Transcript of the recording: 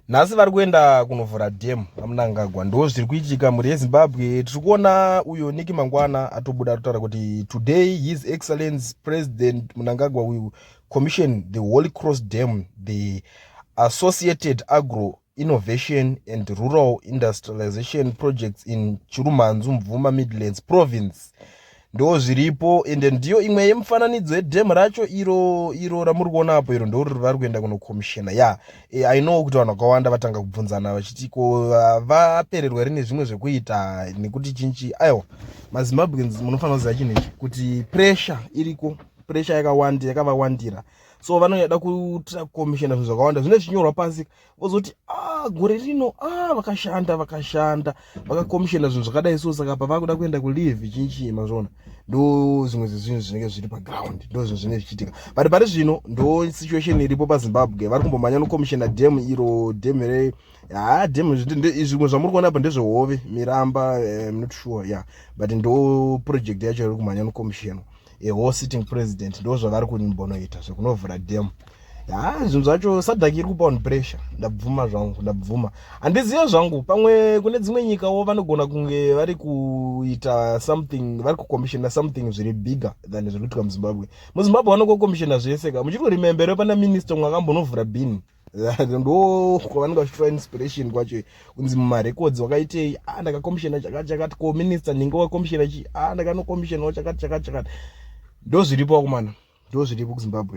nhasi vari kuenda kunovhura dam vamunangagwa ndo zviri kuitika mhuri yezimbabwe tiri kuona uyo niki mangwana atobuda atotaura kuti today his excellence president munangagwa will commission the holy cross dam the associated agro innovation and rural industrialization projects in chirumanzu mvuma midlands province ndozviripo ende ndiyo imwe yemifananidzo yedhem racho iro iro ramuri kuona apo iro ndori vari kuenda kunokomishena ya yeah. e, i know kuti vanhu vakawanda vatanga kubvunzana vachiti ko vapererwa here nezvimwe zvekuita nekuti chinchi aiwa mazimbabweans munofanira kuziva chinhu ichi kuti pressure iriko pressure yakawandi yakavawandira so vanoda kuita komishena zvinhu zvakawanda zvine zvinyorwa pasi vozoti ah, gore rino ah, vakashanda vakashanda vakakomishena zvinhu zvakadai so saka apa vakuda kuenda kulive chinchii mazvona ndo zvimwe zvezvinhu zvinenge zviri paground ndo zvinhu zvinenge zvichiitika but pari zvino ndo situation iripo pazimbabwe vari kumbomhanya nokomishena dam iro dam re haa dam zvimwe zvamuri kuona apa ndezvehove miramba eh, not sure ya yeah. but ndo project yacho iri kumhanya nokomishena a whole sitting president ndo zvavari kunimbonoita zvekunovhura dam haa ah, zvinhu zvacho sadhaki iri kupa vanhu pressure ndabvuma zvangu ndabvuma handizive zvangu pamwe kune dzimwe nyikawo vanogona kunge vari kuita something vari kucommissiona something zviri bigger than zviri kuitika muzimbabwe muzimbabwe vanokocomissiona zvese ka muchiri kurimembere pana minister mwakambonovhura bini ndo kwavanenge vachitora inspiration kwacho kunzi mumarecords wakaitei a ah, ndakakomishena chakati chakati ko minister ndinge wakomishena chii a ah, ndakanokomishena chakati chakati chakati ndozviripo kumana ndozviripo kuzimbabwe